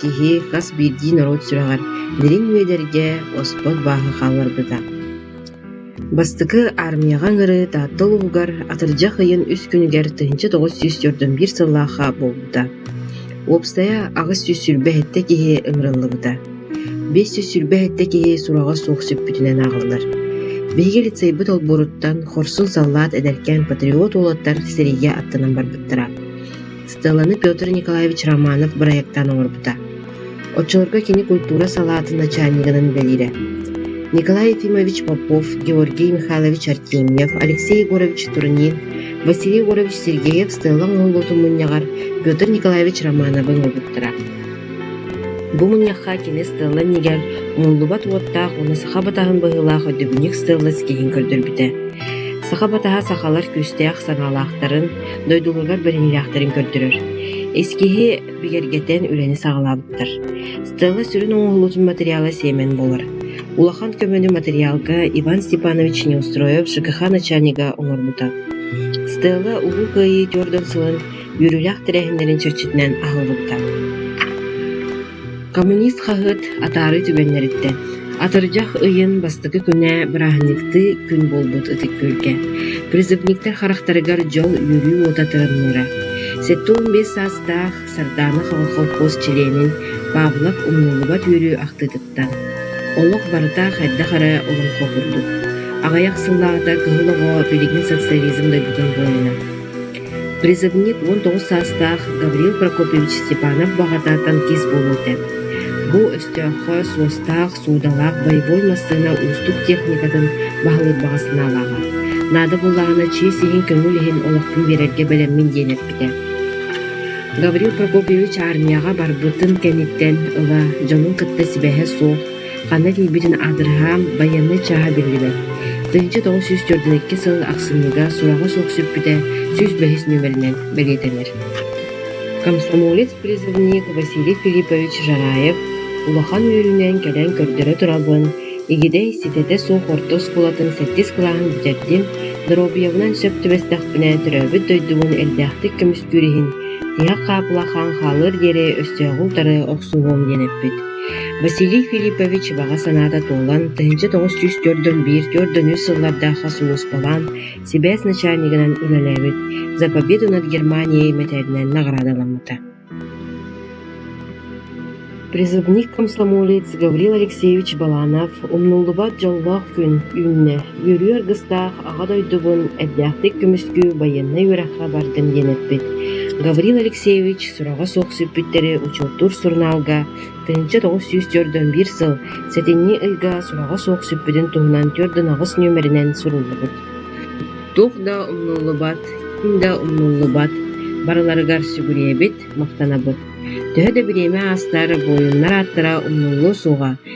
Киһи хас биирдии норуот сүрэҕэр дириҥ үөдэргэ оспот бааһы хаалларбыта. Бастакы аармыйаҕа ыҥырыы Таатта улууһугар атырдьах ыйын үс күнүгэр тыһыынча тоҕус сүүс төрдөн биир сыллаахха буолбута. Уопсайа аҕыс сүүс сүүрбэ сэттэ киһи ыҥырыллыбыта. Биэс сүүс сүүрбэ сэттэ киһи сураҕа суох сүппүтүнэн ааҕыллар. Биһиги лицейбыт олбуоруттан Хорсун саллаат эдэркээн патриот уолаттар сэриигэ аттанан барбыттара. Стелланы Петр Николаевич Романов бырайыактаан оҥорбута. Оччолорго кини культура салаатын начальнигынан үлэлиирэ. Николай Ефимович Попов, Георгий Михайлович Артемьев, Алексей Егорович Турнин, Василий Егорович Сергеев Стеллаҥ уһуллуутун мунньаҕар Петр Николаевич Романовы оҥорбуттара. Бу мунньахха кини Стелла иннигэр умуллубат уоттаах уонна саха батаһын быһыылаах өйдөбүнньүк Стелла ситиһин көрдөрбүтэ. Саха батаһа сахалар күүстээх санаалаахтарын, дойдуларыгар бэриниилээхтэрин көрдөрөр. Ис киһи бигэргэтэн үлэни саҕалаабыттар. Стелла сүрүн оҥоһуллубут материала сиэмэн буолар. Улахан көмөнү материалга Иван Степанович Неустроев ЖКХ начальнига оҥорбута. Стелла Улуу Кыайыы Дьордон сылын үөрүүлээх тэрээһиннэрин чэрчитинэн аһыллыбыта. Коммунист хаһыат атаарыы түгэннэриттэн атырдьах ыйын бастакы күнэ бырааһынньыктыы күн буолбут ытык-күөлгэ, призывниктар харахтарыгар дьол үөрүү уота тыынныыра. Сэттэ уон биэс саастаах Сардаана колхоз чилиэнин Павлов умнуллубат үөрүү ахтыытыттан «Олох барыта хайдах эрэ олоҥхо курдук» аҕыйах сыллааҕыта кыһыл оҕо билигин социализм дойдутун буойуна Призывник уон тоҕус саастаах Гаврил Прокопович Степанов баҕата танкист буолуо этэ. Бу өстөөххө суостаах, суудалаах боевой массыына уустук техникатын баһылыыр баҕа санаалааҕа. Наада буоллаҕына чиэс иһин көҥүл иһин олохпун биэрэргэ бэлэммин диэн эппитэ. Гаврил Прокопович армияҕа барбытын кэнниттэн ыла дьонун кытта сибэһэ суох Ханна тиийбитин аадырыһаан, байыаннай чааһа биллибэт. Тыһыынча тоҕус сүүс төрдүнэкки сыл ахсынныга сураҕа суох сүппүтэ сүүс бэһис нүөмэринэн бэлиэтэнэр. Комсомолец призывник Василий Филиппович Жараев улахан үөрүүнэн кэлэн көрдөрө турабын, игидэй ситэтэ суох орто оскуолатын сэттис кылааһын бүтэрдим, доруобуйабынан сөп түбэстэхпинэ төрөөбүт дойдубун элбээхтик көмүскүүр иһин, тиһэх хаапыла хаан хаалыар диэри өстөөҕү утары охсуһуом диэн эппит Василий Филиппович баҕа санаата туолан, тыһыынча тоҕус сүүс төрдүн биир төрт дөнүө сыллардаахха сулууспалаан, сибээс начальнигынан үлэлээбит «За победу над Германией» мэтээлинэн наҕараадаламмыта. Призывник комсомолец Гаврил Алексеевич Баланов умнуллубат дьоллоох күн үүннэ. Үөрүү аргыстаах Аҕа дойдубун эрдээхтик көмүскүү байыаннай үөрэххэ бардым диэн эппит Гаврил Алексеевич сураҕа суох сүппүттэри учуоттуур сурунаалга тыһыынча тоҕус сүүс төрдөн биир сыл сэтинньи ыйга сураҕа суох сүппүтүн туһунан түөрт ын аҕыс нүөмэринэн суруллубут Туох да умнуллубат, ким да умнуллубат барыларыгар сүгүрүйэбит, махтанабыт. Төһө да бириэмэ аастар, буойуннар ааттара умнуллуо суоҕа